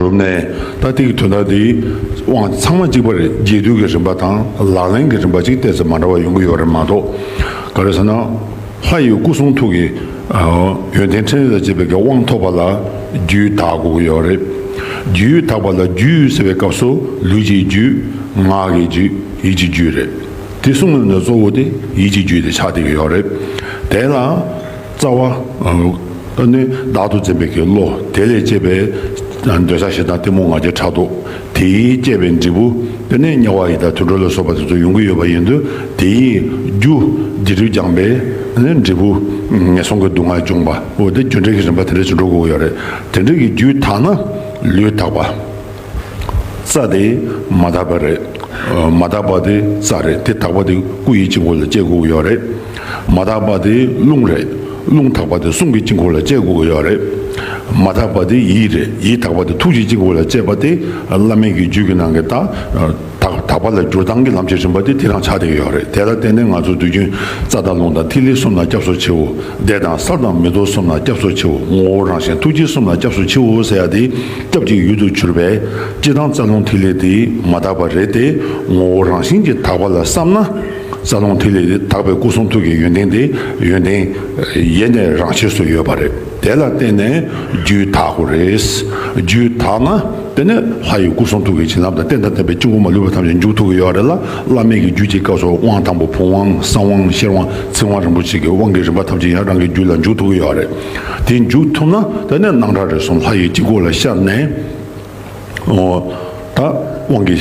རུབ་ནས་ཏག་ཏིག་གི་དོན་དག་འདིའི་དབང་ཚང་མ་གཅིག་པ་རེད་རྒྱས་བསྡུས་ཀྱི་རིམ་པ་དང་ལག་ལེན་གྱི་རིམ་པ་གཅིག་བལྟས་ཚེ་མ་འདྲ་བ་ཡོང་གི་ཡོད་རེད་མ་གཏོགས་ག་རེ་ཟེར་ན་ལྷ་ཡི་སྐུ་གསུང་ཐུགས་ཀྱི་ཡོན་ཏན་ཕྲིན་ལས་དང་བཅས་པའི་དགེ་བ་དབང་ཐོབ་པ་ལ་རྒྱུད་དག་དགོས་ཀྱི་ཡོད་རེད། རྒྱུད་དག་པ་ལ་རྒྱུད་ཟེར་བའི་སྐབས་སུ་ལུས་ཀྱི་རྒྱུད། ངག་གི་རྒྱུད་ཡིད་ཀྱི་རྒྱུད་རེད། དེ་གསུམ་ལས་གཙོ་བོ་དེ་ཡིད་ཀྱི་རྒྱུད་དེ་ཆགས་བསྡད་ཀྱི་ཡོད་རེད། དེ་ལ། རྩ་བ། ཨ་ནི་བདག་ཏུ་འཛིན་པའི་གི་བློ་དེ་ལས་སྐྱེས་པའི། འདོད་ཆགས་ཞེ་སྡང་གཏི་མུག་ང་རྒྱལ་ཕྲག་དོག་དེས་བསྐྱེད་པའི་འབྲས་བུ། དེ་ནས་དམྱལ་བ་ཡི་དྭགས་དུད་འགྲོ་ལ་སོགས་པ་དེ་ཚོ་ཡོང་གི་ཡོད་པ་ཡིན་དུས་དེ་ཡི། རྒྱུ། དགེ་སྡིག་སྦྱངས་པའི། འབྲས་བུ། ངན་སོང་གི་སྡུག་བསྔལ་འབྱུང་བ་འོ་དེ་རྒྱུ་འབྲས་ཀྱི་རིམ་པ་དེ་འདྲ་ཅིག་འགྲོ་དགོས་ཀྱི་ཡོད་རེད། དེ་འདྲ་གི་རྒྱུའི་དག་ན། ལུས་དག་པ། རྩ་དེ་མ་དག་པ་རེད། མ་དག་པ་དེ་རྩ་རེད་དེ་དག་པ་དེ་སྐུ་ཡི་དཀྱིལ་འཁོར་ལ་དཔྱད་དགོས་ཀྱི་ཡོད་རེད། མ་དག་པ་དེ་རླུང་རེད། རླུང་དག་པ་དེ་གསུང་གི་དཀྱིལ་འཁོར་ལ་དཔྱད་དགོས་ཀྱི་ཡོད་རེད། མ་དག་པ་དེ་ཡིད་རེད་ཡིད་དག་པ་དེ་ཐུགས་ཀྱི་དཀྱིལ་འཁོར་ལ་དཔྱད་པ་དེ་བླ་མེད་ཀྱི་རྒྱུད་ཀྱི་ནང་གི་རྟགས། དག་དག་པ་ལ་སྒྱུར་སྟངས་ཀྱི་ལམ་གྱི་རིམ་པ་དེ་དེ་རང་ཆ་དེ་ཡོད་རེད་དེ་ལ་བརྟེན་ནས་ང་ཚོ་དུས་རྒྱུན་རྩ་དང་རླུང་དང་ཐིག་ལེ་གསུམ་ལ་སྐྱབས་སུ་མཆིའོ་བཟླས་དང་བསགས་དང་མི་རྟོག་གསུམ་ལ་སྐྱབས་སུ་མཆིའོ་ངོ་བོ་རང་བཞིན་ཐུགས་རྗེ་གསུམ་ལ་སྐྱབས་སུ་མཆིའོ་ཟེར་ཡ་དེ་སྐྱབས་ཀྱི་ཡུལ་དུ་གྱུར་པས་སྤྱི་དང་རྩ་རླུང་ཐིག་ལེ་དེ་མ་དག་པ་རེད་དེ་ངོ་བོ་རང་བཞིན་གྱི་དག་པ་ལ་བསམ་ན་རྩ་རླུང་ཐིག་ལེ་དེ་དག་པའི་སྐུ་གསུང་ཐུགས་ཀྱི་ཡོན་ཏན་དེ་ཡོན་ཏན་ཡེ་ནས་རང་ཆས་སུ་ཡོད་པ་རེད། དེ་ལ་བརྟེན་ནས་རྒྱུད་དག་གོ། རྒྱུད་དག་ན་དེ་ནི་ལྷ་ཡི་སྐུ་གསུང་ཐུགས་ཀྱི་བྱིན་རླབས་དང་རྟེན་དང་བརྟེན་པའི་དཀྱིལ་འཁོར་མ་ལུས་པ་ཐམས་ཅད་མཇུག་ཐུག་གི་ཡོ་བ་རེ་ལ་བླ་མེད་ཀྱི་རྒྱུད་ཀྱི་སྐབས་སུ་དབང་དང་པོ་བུམ་དབང་གསང་དབང་ཤེར་དབང་ཚིག་དབང་རིན་པོ་ཆེ་གི་དབང་གི་རིམ་པ་ཐམས་ཅད་ཡང་རང་གི་རྒྱུད་ལ་མཇུག་ཐུག་གི་ཡོ་བ་རེ་དེ་མཇུག་ཐུབ་ན་དེ་ནི་སྣང་གྲགས་རེ་གསུམ་ལྷ་ཡི་དཀྱིལ་འཁོར་ལ་ཤར་ནས། ད་དབང་གི་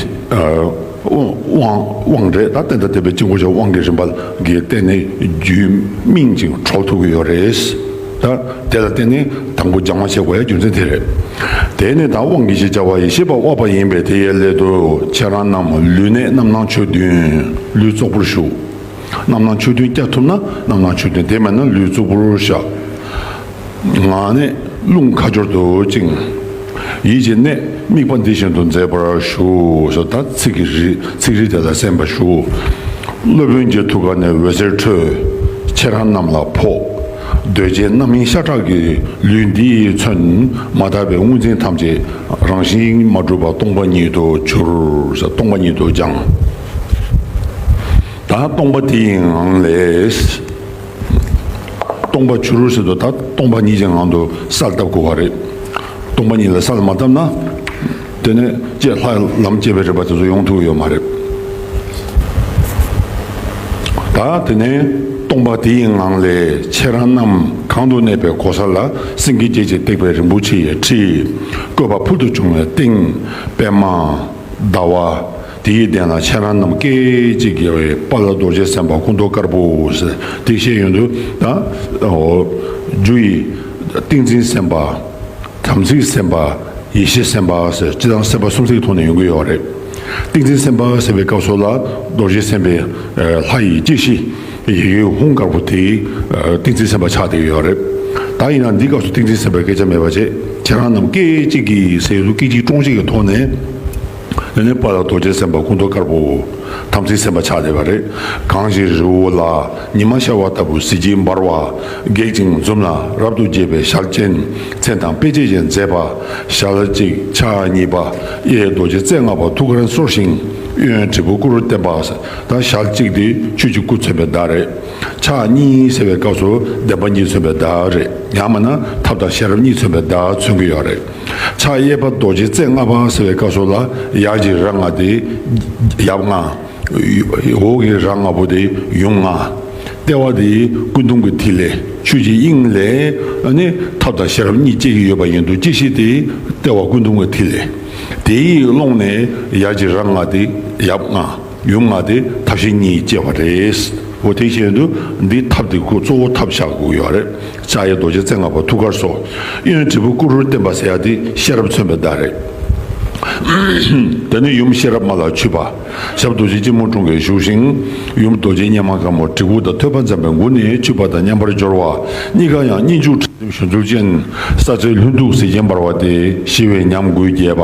དབང་རེད་ད་བསྟན་དང་བསྟན་པའི་དཀྱིལ་འཁོར་ཆོས་དབང་གི་རིམ་པ་ལགས་བསྟན་ནས་རྒྱུད་སྨིན་ཅིང་གྲོགས་ཐུག་གི་ཡོད་རེད་ད་དེ་ལ་བརྟེན་ནས་དང་པོ་སྦྱང་བ་བྱེད་དགོས་ཡ་རྒྱུ་མཚན་དེ་རེད་དེ་ནས་ད་དབང་གི་ཞེས་བྱ་བ་ཡེ་ཤེས་པ་དབབ་པ་ཡིན་པས་དེ་ཡའི་སླད་དུ་ཁྱེད་རང་རྣམས་ལུས་གནད་རྣམ་སྣང་ཆོས་བདུན་ལུས་ཙོག་པུར་གཞུག་རྣམ་སྣང་ཆོས་བདུན་བསྐྱར་ཐུབ་ན་རྣམ་སྣང་ཆོས་བདུན་དེ་མེད་ན་ལུས་ཙོག་པུར་བཞག། ངག་ནི་རླུང་ཁ་སྦྱོར་དུ་བཅིངས། ཡིད་ཀྱི་གནད་དམིགས་པ་འདི་བཞིན་དུ་མཛད་པར་ཞུ་ཞེས་དང་ཚིག་རིས་དེ་ལ་གསན་པར་ཞུ། སློབ་དཔོན་གྱི་ཐུགས་ཀ་ནས་འོད་ཟེར་འཕྲོས། ཁྱེད་རང་རྣམས་ལ་ཕོག། གདོས་བཅས་རྣམ་སྨིན་ཤ་ཁྲག་གི་ལུས་འདི་མཚོན་མ་དག་པའི་དངོས་འཛིན་ཐམས་ཅད་རང་བཞིན་མ་གྲུབ་པ་སྟོང་པ་ཉིད་དུ་གྱུར། སྟོང་པ་ཉིད་དུ་སྦྱངས། ད་སྟོང་པ་དེའི་ངང་ལས། སྟོང་པ་བྱུ་རུར་ཟེར་དུ་ཐག་སྟོང་པ་ཉིད་ཀྱི་ངང་དུ་ས་ལ་བཏབ་དགོས་པ་རེད། སྟོང་པ་ཉིད་ལ་ས་ལ་མ་བཏབ་ན། དེ་ནི་སྤྱད་ལྷག་ལམ་སྤྱད་པའི་རིགས་པ་དེ་ཚོ་ཡོང་ཐུབ་ཀྱི་ཡོད་མ་རེད། ད་དེ་ནས་སྟོང་པ་དེ་ཡི་ངང་ལས་ཁྱེད་རང་རྣམས་གང་དུ་གནས་པའི་གོ་ས་ལ་སེང་གེ་བརྒྱད་ཀྱིས་བཏེགས་པའི་རིན་པོ་ཆེ་ཡི་ཁྲིའི་བཀོད་པ་ཕུལ་དུ་བྱུང་བའི་སྟེང་པདྨ་ཟླ་བ། དེའི་གདན་ལ་ཁྱེད་རང་རྣམས་སྐད་ཅིག་རྒྱལ་བའི་དཔའ་ལ་རྡོ་རྗེ་སེམས་དཔའ་སྐུ་མདོག་དཀར་པོ་ཟེར་དེ་ཤེས་ཡོན་དུ་དང། རྒྱུ་ཡི་ཏིང་འཛིན་སེམས་དཔའ། དམ་ཚིག་སེམས་དཔའ། ཡེ་ཤེས་སེམས་དཔའ་ཟེར་སྤྱི་དང་སེམས་དཔའ་གསུམ་ཚིག་ཐོག་ནས་ཡོང་གི་ཡོད་རེད། ཏིང་འཛིན་སེམས་དཔའ་ཟེར་བའི་སྐབས་སོགས་ལ་རྡོ་རྗེ་སེམས་དཔའི་ལྷ་ཡི་སྐྱེ་ཤི་ཡི་གེ་ཧུང་དཀར་པོ་དེའི་ཏིང་འཛིན་སེམས་དཔའ་ཆགས་བསྡད་ཀྱི་ཡོད་རེད། ད་ཡིན་ན་འདིའི་སྐབས་སུ་ཏིང་འཛིན་སེམས་དཔའི་སྐད་ཆ་མེད་པ་བྱས་ཁྱེད་རང་རྣམས་སྐད་ཅིག་གིས་ཟེར་ཡོད་དུ་སྐད་ཅིག་ཀྲོང་ཅིག་གི་ཐོག་ནས། ཨེ་ནས་པ་ལ་རྡོ་རྗེ་སེམས་དཔའ་སྐུ་མདོག་དཀར་པོའོ། དམ་ཚིག་སེམས་དཔའ་ཕྱག་བྱེད་པ་རེ། གང་ཞིག་རི་བོ་ལ་ཉི་མ་ཤར་བ་ལྟ་བུ་གཟི་བརྗིད་འབར་བ། སྒེག་ཅིང་འཛུམ་ལ་རབ་ཏུ་དགྱེས་པའི་ཞག་གཅན། མཚན་དང་དཔེ་བྱད་བཞིན་མཛེས་པ། ཞག་ལ་གཅིག་ཕྱག་གཉིས་པ། གཡས་རྡོ་རྗེ་རྩེ་ལྔ་པ་ཐུགས་ཀར་གསོར་ཞིང། གཡོན་དྲིལ་བུ་སྐུ་རུ་བསྟན་པ། དང་ཞག་གཅིག་དེ་ཆོས་ཀྱི་སྐུ་མཚོན་པའི་བརྡ་རེ། ཕྱག་གཉིས་གསལ་བའི་སྐབས་སུ་བདེན་པ་གཉིས་མཚོན་པའི་བརྡ་རེ། ཡང་མིན་ན་ཐབས་དང་ཤེས་རབ་གཉིས་མཚོན་པའི་བརྡ་མཚོན་གྱི་ཡོད་རེ། ཕྱག་གཡས་པ་རྡོ་རྗེ་རྩེ་ལྔ་པ་ཟེར་བའི་བཀའ་སྲོལ་ལ་ཡར་གྱི་རྭ་ལྔ་སྟེ། ཡབ་ལྔ། འོག་གི་རྭ་ལྔ་པོ་སྟེ་ཡུམ་ལྔ། ལྟེ་བ་དེ་སྐུ་གདུང་གི་ཐིག་ལེ་ཆོས་ཀྱི་དབྱིངས་ལས་ནི་ཐབས་དང་ཤེས་རབ་གཉིས་བསྐྱེད་ཀྱི་ཡོད་པ་ཡིན་འདུག་ཅི་ཞིག་དེ་ལྟེ་བ་སྐུ་གདུང་གི་ཐིག་ལེ་དེའི་ཀློང་ནས་ཡར་གྱི་རྭ་ལྔ་སྟེ་ཡབ་ལྔ། ཡུམ་ལྔ་སྟེ་ཐབས་ཤེས་གཉིས་བསྐྱེད་པ་རེད། འོ་དེ་བཞིན་དུ་འདིའི་ཐབས་དེ་ཁུ་གཙོ་བོ་ཐབས་ཞག་དགུ་ཡོད་རེད། ལྕགས་ཡེ་རྡོ་རྗེ་རྩེ་ལྔ་པ་ཐུགས་ཀར་སོགས། གཡོན་དྲིལ་བུ་ཀུ་རུར་བསྟན་པ་སེར་དེ་ཤེས་རབ་མཚོན་པའི་བརྡ་རེད། དེ་ནི་ཡུམ་ཤེས་རབ་མ་ལ་འཁྱུད་པ། ཞབས་རྡོ་རྗེ་སྐྱིལ་མོ་ཀྲུང་གིས་བཞུགས་ཤིང། ཡུམ་རྡོ་རྗེ་སྙེམས་མ་དཀར་མོ་དྲིལ་བུ་དང་ཐོད་པ་འཛམ་པའི་མགུར་ནས་འཁྱུད་པ་དང་མཉམ་པར་སྦྱོར་བ། གཉིས་ཀ་ཡང་གཉིས་འཇུག་ཁྲིགས་འཛིན་བཞུ་ཚུལ་ཅན། ས་ཚེ་ལྷུན་སྟུག་གཟི་བྱིན་འབར་བ་སྟེ་ཞི་བའི་ཉམས་དགུས་རྒྱས་པ།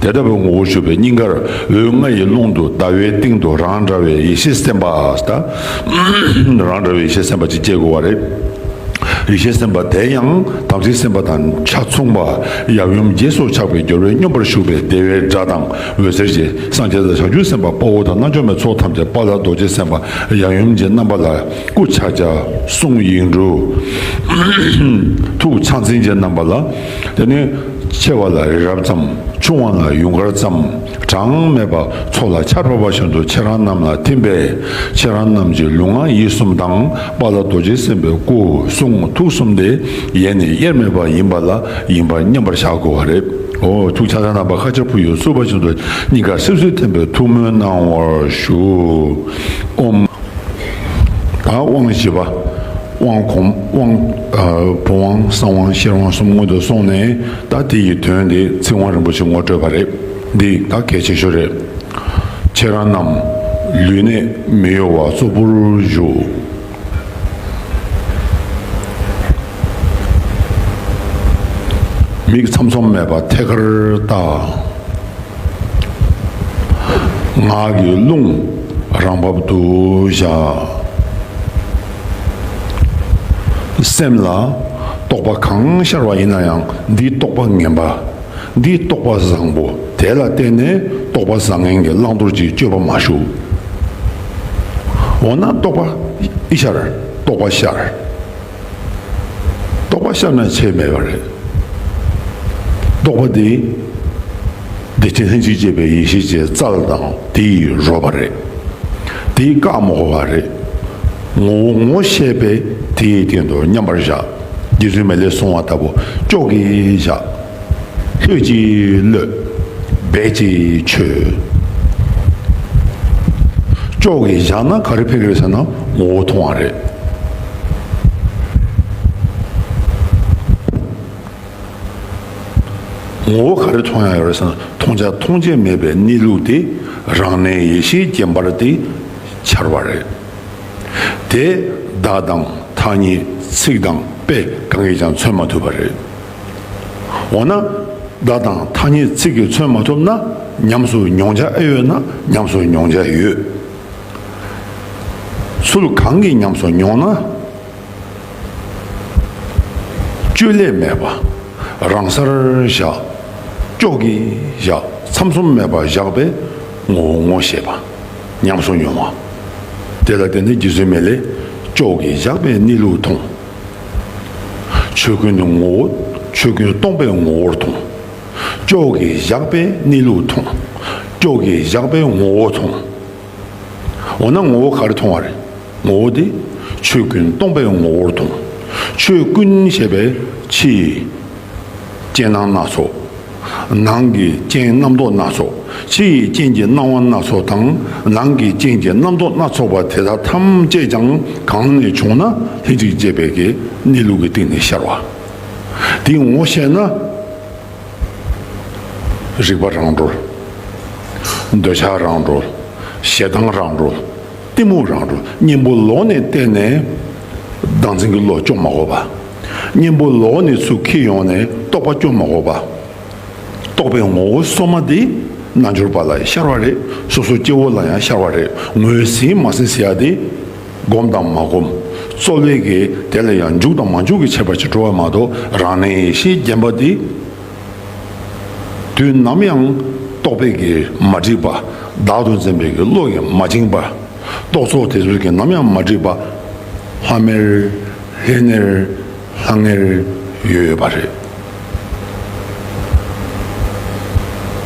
དེ་ལྟ་བུའི་ངོ་བོ་ཞུ་བའི་སྙིང་གར་འོད་ལྔ་ཡི་ཀློང་དུ་ཟླ་བའི་སྟེང་དུ་རང་འདྲ་བའི་ཡེ་ཤེས་སེམས་དཔའ། རང་འདྲ་བའི་ཡེ་ཤེས་སེམས་དཔའ་ཅིག་སྐྱེ་དགོས་བ་རེད། ཡེ་ཤེས་སེམས་དཔའ་དེ་ཡང་དམ་ཚིག་སེམས་དཔའ་དང་ཆ་མཚུངས་པ་ཡབ་ཡུམ་རྗེས་སུ་ཆགས་པའི་སྦྱོར་བས་སྙོམས་པར་ཞུགས་པའི་བདེ་བའི་སྒྲ་དང་འོད་ཟེར་གྱིས་སངས་རྒྱས་དང་བྱང་ཆུབ་སེམས་དཔའ་དཔའ་བོ་དང་རྣལ་འབྱོར་མའི་ཚོགས་ཐམས་ཅད་དཔའ་ལ་རྡོ་རྗེ་སེམས་དཔའ་ཡབ་ཡུམ་གྱི་རྣམ་པ་ལ་སྐུ་ཕྱག་རྒྱ་གསུང་ཡིག་འབྲུ། ཐུགས་ཕྱག་མཚན་གྱི་རྣམ་པ་ལ། དེ་ནས། ཆེ་བ་ལ་རི་རབ་ཙམ་ཆུང་བ་ལ་ཡུངས་ཀར་ཙམ་གྲངས་མེད་པ་ཚོགས་ལ་ཆར་ཕབ་པ་བཞིན་དུ་ཁྱེད་རང་རྣམས་ལ་ཐིམ་པས་ཁྱེད་རང་རྣམས་ཀྱི་ལུས་ངག་ཡིད་གསུམ་དྭངས་པ་ལ་རྡོ་རྗེ་སེམས་དཔའི་སྐུ་གསུང་ཐུགས་གསུམ་དེ་ཡེ་ནས་དབྱེར་མེད་པ་ཡིན་པ་ལ་ཡིན་པར་མཉམ་པར་བཞག་དགོས་བ་རེད། ཧོ། ཐུགས་ཆག་ཆག་རྣམ་པ་ཁ་ཆར་བུ་ཡུག་བསུ་བ་བཞིན་དུ་སྙིང་གར་སིབ་སིབ་ཐིམ་པས་ཐུགས་སྨོན་གནང་བར་ཞུ། ཨོམ། དང་དབང་བཞི་པ། དབང་གོང་དབང། བུམ་དབང་གསང་དབང་ཤེར་དབང་གསུམ་སྔོན་དུ་སོང་ནས་ད་དེ་ཡི་དོན་དེ་ཚིག་དབང་རིན་པོ་ཆེ་ངོ་སྤྲོད་པ་རེད། འདི་ག་གལ་ཆེ་ཤོས་རེད། ཁྱེད་རང་རྣམས་ལུས་གནད་མི་གཡོ་བ་གཙོ་བོར་བཞུགས། མིག་ཚམ་ཚོམ་མེད་པར་ཐད་ཀར་བལྟ། ངག་གི་རླུང་རང་བབ་ཏུ་བཞག། སེམས་ལ་རྟོག་པ་གང་ཤར་བ་ཡིན་ན་ཡང་འདིའི་རྟོག་པ་ངན་པ། འདིའི་རྟོག་པ་བཟང་པོ་དེ་ལ་བརྟེན་ནས་རྟོག་པ་བཟང་ངན་གྱི་བླང་དོར་གྱི་དཔྱོད་པ་མ་ཞུགས། འོ་ན་རྟོག་པ་ཤར་རྟོག་པ་ཤར། རྟོག་པ་ཤར་ན་ཆེད་མེད་པ་རེད། རྟོག་པ་དེ། བདེ་ཆེན་ལྷན་ཅིག་སྐྱེས་པའི་ཡེ་ཤེས་ཀྱི་རྩལ་དང་དེ་ཡི་རོལ་པ་རེད། དེ་ཡི་བཀའ་མོ་བ་རེད། ངོ་བོ་ངོ་ཤེས་པས་དེ་ཡི་སྟེང་དུ་མཉམ་པར་བཞག། རྗེ་བཙུན་མ་ལས་གསུང་བ་ལྟ་བུ་ཅོག་གིས་བཞག། ལྷོད་ཀྱིས་ཀློད། རྦད་ཀྱིས་ཆོད། ཅོག་གིས་བཞག་ན་ག་རེ་ཕེབས་ཡོད་ཟེར་ན་ངོ་བོ་མཐོང་བ་རེད། ངོ་བོ་ག་རེ་མཐོང་ཡང་ཡོད་རེད་བསམ་མཐོང་བྱ་མཐོང་བྱེད་མེད་པའི་གནས་ལུགས་དེ་རང་གནས་ཡེ་ཤེས་རྒྱན་པར་དེ་འཆར་བ་རེད། དེས་བདག་དང་ཐ་སྙད་ཚིག་དང་དཔེ་གང་གིས་ཀྱང་མཚོན་མ་ཐུབ་པ་རེད། འོ་ན་བདག་དང་ཐ་སྙད་ཚིག་གིས་མཚོན་མ་ཐུབ་ན་ཉམས་སུ་མྱོང་བྱ་ཨེ་ཡོད་ན་ཉམས་སུ་མྱོང་བྱ་ཡོད། ཚུལ་གང་གིས་ཉམས་སུ་མྱོང་ན། བཅོས་ལས་མེད་པ་རང་སར་བཞག། ཀྱོག་གིས་བཞག་མཚམས་གསུམ་མེད་པར་བཞག་པའི་ངོ་བོ་ངོ་ཤེས་པ། ཉམས་སུ་མྱོང་བ། དེ་ལ་བརྟེན་ནས་རྒྱུ་བཟོད་མེད་ལས་ཀྱོག་གིས་བཞག་པའི་གནས་ལུགས་མཐོང། ཆོས་ཀུན་ནི་ངོ་བོ་ཆོས་ཀུན་སྟོང་པའི་ངོ་བོར་མཐོང། ཀྱོག་གིས་བཞག་པའི་གནས་ལུགས་མཐོང། ཀྱོག་གིས་བཞག་པའི་ངོ་བོ་མཐོང། འོ་ན་ངོ་བོ་ག་རེ་མཐོང་བ་རེད། ངོ་བོ་དེ་ཆོས་ཀུན་སྟོང་པའི་ངོ་བོར་མཐོང། ཆོས་ཀུན་ཞེས་པའི་ཕྱིའི་རྐྱེན་སྣང་སྣ་ཚོགས། ནང་གི་རྐྱེན་རྣམ་རྟོག་སྣ་ཚོགས། ཕྱི་ཡི་རྐྱེན་གྱི་སྣང་བ་སྣ་ཚོགས་དང་ནང་གི་རྐྱེན་གྱི་རྣམ་རྟོག་སྣ་ཚོགས་པ་དེ་དག་ཐམས་ཅད་ཀྱང་གང་ནས་བྱུང་ན་ལྷན་ཅིག་སྐྱེས་པའི་གནས་ལུགས་ཀྱི་སྟེང་ནས་ཤར་བ། དེའི་ངོ་ཤེས་ན། རིག་པ་རང་གྲོལ། འདོད་ཆགས་རང་གྲོལ། ཞེ་སྡང་རང་གྲོལ། གཏི་མུག་རང་གྲོལ། གཉེན་པོ་ལོག་ནས་བསྟན་ནས། བདག་འཛིན་གྱི་བློ་སྐྱོ་མ་གོ་བ། གཉེན་པོ་ལོག་ནས་ཚུར་འཁྱིལ་ཡོང་ནས་རྟོག་པ་སྐྱོ་མ་གོ་བ། རྟོག་པའི་ངོ་བོ་སོ་མ་དེ། རྣལ་འབྱོར་པ་ལ་ཤར་བ་རེད། སོ་སོ་སྐྱེ་བོ་ལ་ཡང་ཤར་བ་རེད། ངོས་ཟིན་མ་ཟིན་ཟེར་ཡ་དེ། བསྒོམ་དང་མ་བསྒོམ་རྩོལ་བས་ཀྱི་དེ་ལ་ཡང་འཇུག་དང་མ་འཇུག་གི་བྱེད་པ་ཅིག་འགྲོ་བ་མ་གཏོགས་རང་གནས་ཡེ་ཤེས་བརྒྱན་པ་འདི་དུས་ནམ་ཡང་རྟོག་པས་ཀྱི་མ་བསྒྲིབས་པ་བདག་ཏུ་འཛིན་པས་ཀྱི་བློ་ཡིས་མ་བཅིངས་པ་རྟོག་ཚོགས་དེ་ཚོས་ཀྱི་ནམ་ཡང་མ་བསྒྲིབས་པ་ལྷམ་མེར་ལྷེ་ནེར། ལྷང་ངེར་ཡོད་པ་རེད།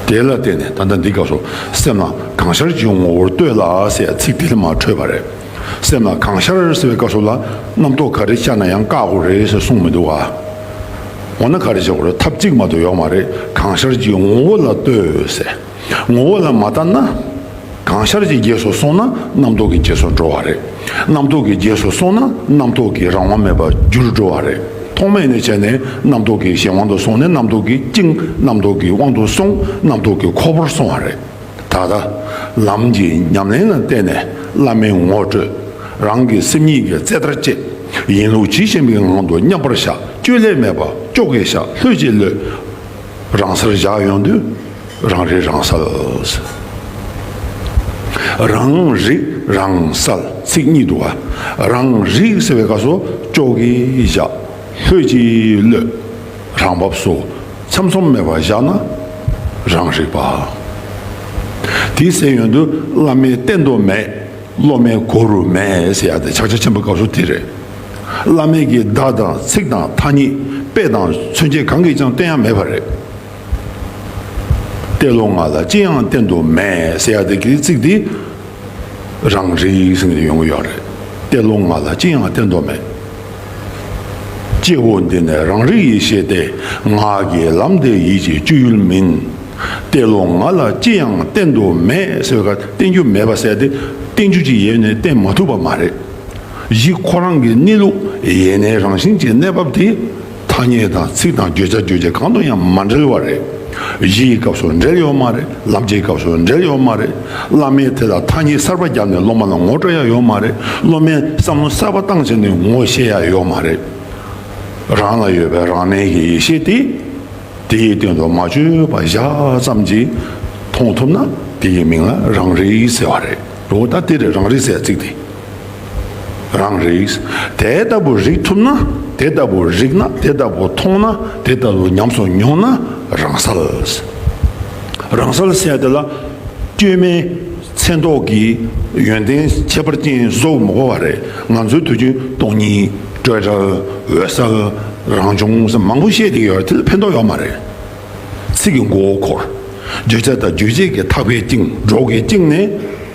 དེ་ལ་བརྟེན་ནས་ད་ལྟ་འདི་སྐབས་སུ་སེམས་ལ་གང་ཤར་གྱི་ངོ་བོར་ལྟོས་ལ་ཟེར་ཚིག་དེ་ལས་མ་འཕྲོས་པ་རེད། སེམས་ལ་གང་ཤར་ཟེར་བའི་སྐབས་སུ་ལ་རྣམ་རྟོག་ག་རེ་བཅར་ན་ཡང་བཀག་དགོས་རེད་ཟེར་གསུངས་མི་འདུག་ག། འོ་ན་ག་རེ་བྱེད་དགོས་རེད་ཐབས་གཅིག་མ་གཏོགས་ཡོག་མ་རེད་གང་ཤར་གྱི་ངོ་བོ་ལ་ལྟོས་ཟེར། ངོ་བོ་ལ་མ་བལྟ་ན། གང་ཤར་གྱི་རྗེས་སུ་སོང་ན་རྣམ་རྟོག་གི་རྗེས་སུ་འགྲོ་བ་རེད། རྣམ་རྟོག་གི་རྗེས་སུ་སོང་ན་རྣམ་རྟོག་གི་རང་དབང་མེད་པར་འགྱུར་འགྲོ་བ་རེད། ཐོག་མེད་ནས་བྱས་ནས་རྣམ་རྟོག་གི་གཞན་དབང་དུ་སོང་ནས་རྣམ་རྟོག་གིས་བཅིངས་རྣམ་རྟོག་གི་དབང་དུ་སོང་རྣམ་རྟོག་གི་ཁོ་བོར་སོང་བ་རེད། ད་ལྟ། ལམ་གྱི་ཉམས་ལེན་ལ་བརྟེན་ནས་བླ་མའི་ངོ་སྤྲོད། རང་གི་སེམས་ཉིད་ཀྱི་རྩལ་ལྟར་སྤྱད། ཡིན་ལུགས་ཇི་བཞིན་པའི་ངང་དུ་མཉམ་པར་བཞག་བཅོས་བསླད་མེད་པ་ཅོག་གེ་བཞག་ལྷོད་ཀྱིས་ཀློད། རང་སར་བཞག་ཡོང་དུས་རང་རིག་རང་གསལ། རང་རིག་རང་གསལ་ཚིག་གཉིས་འདུ་བ་རང་རིག་ཟེར་བའི་སྐབས་སོ་ཅོག་གིས་བཞག་ལྷོད་ཀྱིས་གློད་རང་བབས་སུ་ཚམ་ཚོམ་མེད་པར་བཞག་ན་རང་རིག་པ། དེའི་སེམས་ཡོན་དུ་བླ་མའི་བསྟན་དུ་མེད། སློབ་མའི་མགོ་རུ་མས་ཡ་དེ་ཕྱག་རྒྱ་ཆེན་པོའི་སྐབས་སུ་དེ་རེད། བླ་མེད་ཀྱི་བརྡ་དང་ཚིག་དང་ཐ་སྙད་དཔེ་དང་མཚོན་བྱེད་གང་གིས་ཀྱང་བསྟན་ཡ་མེད་པ་རེད། ཏེ་ལོ་ང་ལ་ཅི་ཡང་བསྟན་དུ་མས་ཡ་དེ་གི་ཚིག་དེ་རང་རེའི་ཡིག་ཚང་དུ་ཡོང་གི་ཡོད་རེད། ཏེ་ལོ་ང་ལ་ཅི་ཡང་བསྟན་དུ་མས། སྐྱེ་བོ་འདི་ནི་རང་རིག་ཡེ་ཤེས་ཏེ། ངག་གི་ལམ་དེ་ཡིད་ཀྱི་སྤྱོད་ཡུལ་མིན། གཏེར་ལོ་ང་ལ་ཅི་ཡང་བསྟན་དུ་མེད་ཟེར་བ་བསྟན་རྒྱུ་མེད་པ་བསལ་ཏེ་བསྟན་རྒྱུ་ཅི་ཡོད་ནི་བསྟན་མ་ཐུབ་པ་མ་རེད། གཞི་ཁོ་རང་གི་གནས་ལུགས་ཡེ་ནས་རང་བཞིན་གྱི་གནས་བབ་དེ་ཐ་སྙད་དང་ཚིག་དང་བརྗོད་བྱ་བརྗོད་བྱེད་གང་དུ་ཡང་མ་འབྲེལ་བ་རེད། གཞི་ཡི་སྐབས་སུ་འབྲེལ་ཡོད་མ་རེད་ལམ་གྱི་སྐབས་སུ་འབྲེལ་ཡོད་མ་རེད། བླ་མས་དེ་ལ་ཐ་སྙད་གསར་པ་བརྒྱབ་ནས་སློབ་མ་ལ་ངོ་སྤྲོད་ཡ་ཡོད་མ་རེད་སློབ་མས་བསམ་བློ་གསར་པ་བཏང་ཕྱིར་ནས་ངོ་བཤད་ཡ་ཡོད་མ་རེད། རང་ལ་ཡོད་པའི་རང་གནས་ཀྱི་ཡེ་ཤེས་དེ་དེའི་སྟེང་དུ་མ་བཅོས་པ་བཞག་ཙམ་གྱིས་མཐོང་ཐུབ་ན་དེའི་མིང་ལ་རང་རིག་ཟེར་བ་རེད། འོ་ད་དེར་རང་རིག་ཟེར་ཚིག་དེ་རང་རིག། དེ་ལྟ་བུ་རིག་ཐུབ་ན་དེ་ལྟ་བུ་རིག་ན་དེ་ལྟ་བུ་མཐོང་ན་དེ་ལྟ་བུ་ཉམས་སུ་མྱོང་ན་རང་སལ། རང་སལ་བསལ་དེ་ལ་སྐྱོན་མེད་མཚན་རྟོག་གི་ཡོན་ཏན་ཁྱད་པར་ཅན་གཟུགས་མགོ་བ་རེ་ང་ཚོའི་དུས་རྒྱུན་སྟོང་ཉིད་སྤྲོས་བྲལ་འོད་གསལ་རང་བྱུང་སེམས་མང་པོ་བཤད་ཀྱི་ཡོད་དེ་ལ་ཕན་ཐོག་ཡོད་མ་རེད། ཚིག་གི་མགོ་བོ་འཁོར། བརྗོད་བྱ་དང་རྗོད་བྱེད་ཀྱི་ཐག་པའི་སྟེང་འགྲོ་གི་སྟེང་ནས།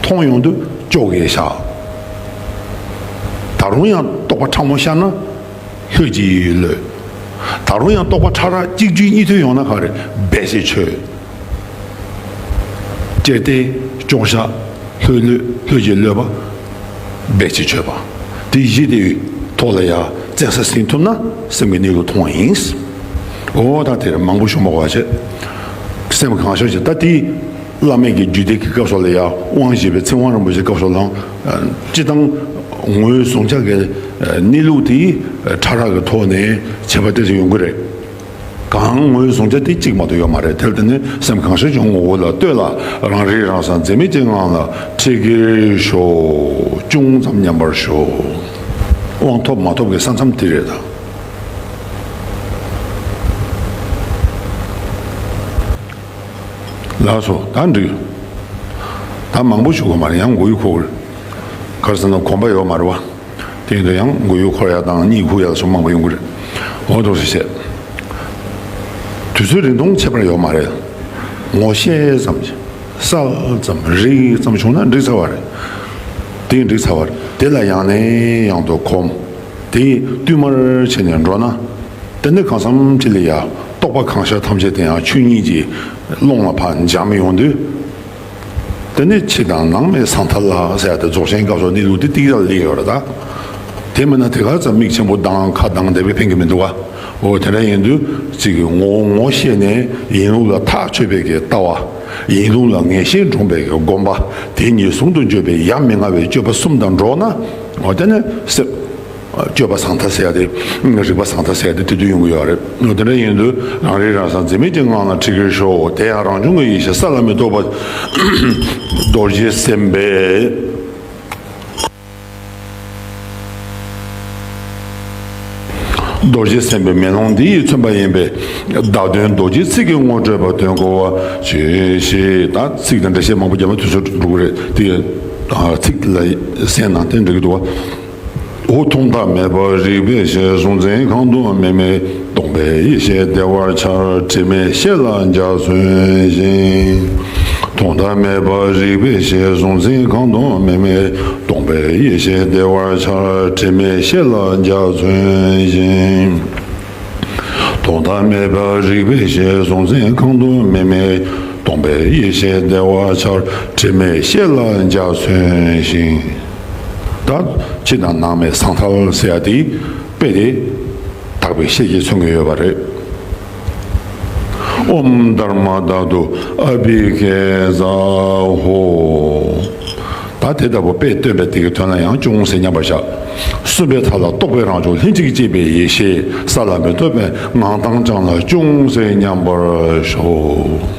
མཐོང་ཡོང་དུ་ཅོག་གེ་བཞག། ད་རུང་ཡང་རྟོག་པ་ཕྲ་མོ་ཤར་ན་ལྷོད་ཀྱིས་གློད། ད་རུང་ཡང་རྟོག་པ་ཕྲ་རགས་གཅིག་བརྒྱུད་གཉིས་ཐོན་ཡོང་ན་ག་རེ་འབད་ཅེས་བྱོས། ཅེར་བསྟན་ཅོག་བཞག་ལྷོད་གློད་ལྷོད་ཀྱིས་གློད་པ་འབད་ཅེས་བྱོས་པ། དེ་གཞི་དེ་ཐོག་ལ་ཡར་བཙན་ས་ཟིན་ཐུབ་ན་སེམས་ཀྱི་གནས་ལུགས་མཐོང་བ་ཡིན། འོ་ད་དེར་མང་པོ་ཞུ་མ་གོ་བ་བྱེད། སེམས་གང་ཤར་བྱེད་ད་དེ། བླ་མེད་ཀྱི་རྒྱུད་སྡེ་དགེ་སྐབས་སོགས་ལ་ཡང་དབང་བཞེས་པའི་ཚེ་དབང་རིན་པོ་ཆེ་སྐབས་སོགས་ལའང་སྤྱི་བཏང་ངོས་བཟུང་ཆ་ཁའི་གནས་ལུགས་དེ་ཕྲ་རགས་ཀྱི་ཐོག་ནས་བྱས་པ་བལྟས་ཚེ་ཡོང་གི་རེད། གང་ངོས་བཟུང་ཆ་དེ་གཅིག་མ་གཏོགས་ཡོད་མ་རེད་དེར་བརྟེན་ནས་སེམས་གང་ཤར་གྱི་ངོ་བོ་ལ་ལྟོས་ལ་རང་རིག་རང་གསང་འཛེམ་མེད་ཀྱི་ངང་ལ་ཁྲིད་གྱིས་ཤོག་ཅུང་ཙམ་ཉམས་པར་ཤོག་དབང་ཐོབ་མ་ཐོབ་ཀྱི་ས་མཚམས་དེ་རེད་ད། ལགས་སོ། ད་འགྲིག་ཡོད། ད་མང་པོ་བྱུགས་པ་མ་རེད་ཡང་མགོ་ཡུ་འཁོར་དགོས། གར་སོང་ན་གོམ་པ་ཡོག་མ་རེད་བ། དེ་ཡིན་དུ་ཡང་མགོ་ཡུ་འཁོར་ཡག་དང་གཉིད་ཁུག་ཡག་སོགས་མང་པོ་ཡོང་གི་རེད། འོ་དོགས་སུ་བྱས། དུས་ཚོད་རིང་ཐུང་ཁྱད་པར་ཡོག་མ་རེད། ངོ་ཤེས་ཙམ་གྱིས་གསལ་ཙམ་རིག་ཙམ་བྱུང་ན་འགྲིག་ཚར་བ་རེད། དེ་འགྲིག་ཚར་བ་རེད་དེ་ལ་ཡང་ནས་ཡང་དུ་གོམས་ཏེ་བསྟུད་མར་བྱས་ནས་འགྲོ་ན། དེ་འདི་གང་བསམ་ཅི་ལ་ཡ། རྟོག་པ་གང་ཤར་ཐམས་ཅད་དེ་ཡང་ཆོས་ཉིད་ཀྱི། ཀློང་ལ་བར་འཇགས་མི་ཡོང་དུས། དེ་ནི་ཕྱི་དང་ནང་མེད་ཟང་ཐལ་ལ། ཟེར་ཡ་དེ་རྫོགས་ཆེན་སྐབས་སོགས་གནས་ལུགས་འདི་ཏིག་ར་ལ་སླེབས་ཡོད་ར་ད། དེ་མིན་ན་དེ་ག་ཙམ་མིག་ཆེན་པོ་དང་ཁ་གདངས་བསྡད་པས་ཕན་གི་མི་འདུག་ག། འོ་དེ་འདྲ་ཡིན་དུས་ཚིག་གི་ངོ་བོ་ངོ་ཤེས་ནས་ཡིན་ལུགས་ལ་ཐག་ཆོད་པའི་གི་ལྟ་བ། ཡིན་ལུགས་ལ་ངེས་ཤེས་འདྲོངས་པའི་གི་སྒོམ་པ་དེ་གཉིས་ཟུང་དུ་འཇོག་པའི་ཡ་མི་ང་བའི་སྤྱོད་པ་གསུམ་དང་འགྲོགས་ན། འོ་དེ་ནི་སེམས། སྤྱོད་པ་བཟང་ཐ་ཟད་དེ། རིག་པ་བཟང་ཐ་ཟད་དེ་དེ་དུས་ཡོང་གི་ཡོད་རེད། དེ་འདྲ་ཡིན་དུས་རང་རིག་རང་གསང་འཛིན་མེད་ཀྱི་ངང་ལ་ཁྲིད་གིན་ཤོག་དེ་ཡང་རང་བྱུང་གི་ཡེ་ཤེས་ས་ལ་མི་རྟོག་པ། རྡོ་རྗེ་སེམས་དཔའི། རྡོ་རྗེ་སེམས་དཔའི་མེ་ལོང་འདི་ཡིས་མཚོན་པ་ཡིན་པས། བདག་དོན་རྡོ་རྗེའི་ཚིག་གི་ངོ་སྤྲོད་པ་དོན་གོ་བ་བྱོས་ཞེས་དང་ཚིག་དང་འགྲེལ་བཤད་མང་པོ་རྒྱ་མ་དུས་ཚོད་འགྲོ་གི་རེད་དེ། ཚིག་ལ་གསན་ན་དེ་འགྲིག་གི་འདུག་བ། ཧཱུྃ་ཐུང་ཐག་མེད་པ་རིག་པའི་ཞལ་གཟུང་འཛིན་གང་དུ་སྨིན་མེད་སྟོང་པའི་ཡེ་ཤེས་བདེ་བར་འཆར་དྲི་མེད་ཤེས་ལ་འཇའ་ཚོན་བཞིན། ཐུང་ཐག་མེད་པ་རིག་པའི་ཞལ་གཟུང་འཛིན་གང་དུ་སྨིན་མེད་སྟོང་པའི་ཡེ་ཤེས་བདེ་བར་འཆར་དྲི་མེད་ཤེས་ལ་འཇའ་ཚོན་བཞིན། ཐོག་མཐའ་མེད་པ་རིག་པའི་ཞལ་གཟུང་འཛིན་རྐང་དུ་མི་མེད་སྟོང་པའི་ཡེ་ཤེས་བདེ་བ་འཆར་དྲི་མེད་ཤེས་ལ་འཇའ་ཚོན་བཞིན། དག་ཕྱི་དང་ནང་མེད་ཟང་ཐལ་བསལ་ཡ་དེའི་དཔེ་དེ་དག་པའི་ཤེས་ཀྱིས་མཚོན་གྱི་ཡོད་པ་རེད། ཨོམ་དར་མ་དག་ཏུ་ཨ་བྷི་ཀེ་ཛ་ཧོ། ད་དེ་ལྟ་བུ་དཔེས་སྟོན་པའི་དེ་གི་དོན་ལ་ཡང་ཅུང་ཟད་མཉམ་པར་བཞག། གསུམ་པའི་མཐའ་ལ་རྟོག་པའི་རང་བྱུང་ལྷན་ཅིག་སྐྱེས་པའི་ཡེ་ཤེས་ས་ལ་མི་ལྟོས་པའི་ངང་དྭངས་བསྐྱངས་ལ་ཅུང་ཟད་མཉམ་པར་བཞག།